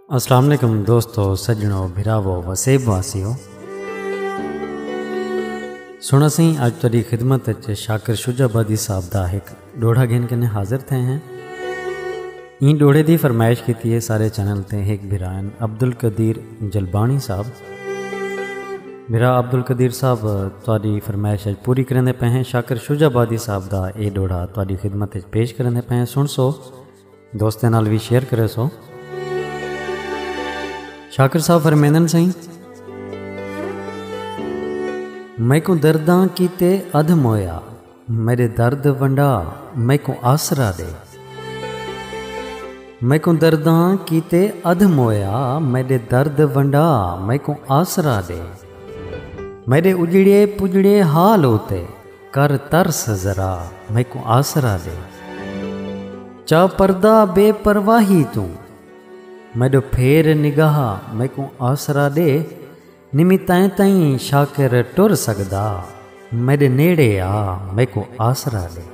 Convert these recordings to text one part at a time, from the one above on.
السلام علیکم دوستو سجنو بھراو وسیب واسیو سنا سی اج تیری خدمت اچ شاکر شجا بادی صاحب دا ایک ڈوڑا گھن کنے حاضر تھے ہیں این ڈوڑے دی فرمائش کیتی ہے سارے چینل تے ایک بھرائن عبدالقدیر جلبانی صاحب بھرا عبدالقدیر صاحب تیری فرمائش اج پوری کرنے پہ ہیں شاکر شجا بادی صاحب دا اے ڈوڑا تیری خدمت اچ پیش کرنے پہ ہیں سن سو دوستیں نال وی شیئر کرے سو شاکر صاحب فرمیندن سائیں میں کو درداں کیتے ادھ مویا میرے درد ونڈا میں کو آسرا دے میں کو درداں کیتے ادھ مویا میرے درد ونڈا میں کو آسرا دے میرے اجڑے پجڑے حال ہوتے کر ترس ذرا میکوں آسرا ݙے۔ چا پردہ بے پرواہی توں میݙو پھیر نگاہ میکوں آسرا ݙے۔ نمی تیں تئیں شاکر ٹر سڳدا میݙے نیڑے آ میکوں آسرا ݙے۔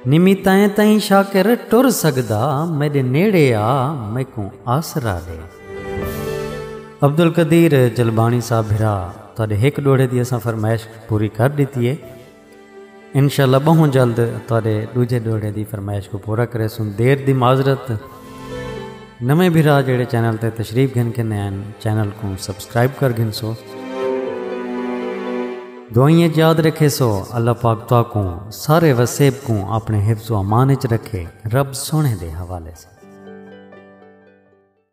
نمی تیں تئیں شاکر ٹر سڳدا میݙے نیڑے آ میکوں آسرا ݙے۔ عبدالقدیر جلبانی صاحب بھرا تہاڈے ہک ڈوہڑے دی اساں فرمائش پوری کر ڈتی ہے انشاءاللہ بہوں جلد تہاڈے ڈوجھے ڈوہڑے دی فرمائش کو پورا کرے سن دیر دی معذرت نویں بھرا جڑے چینل تے تشریف گھن کے نین چینل کو سبسکرائب کر گھن سو دعائیں یاد رکھے سو اللہ پاک تو کو سارے وسیب کو اپنے حفظ و امان وچ رکھے رب سونے دے حوالے سے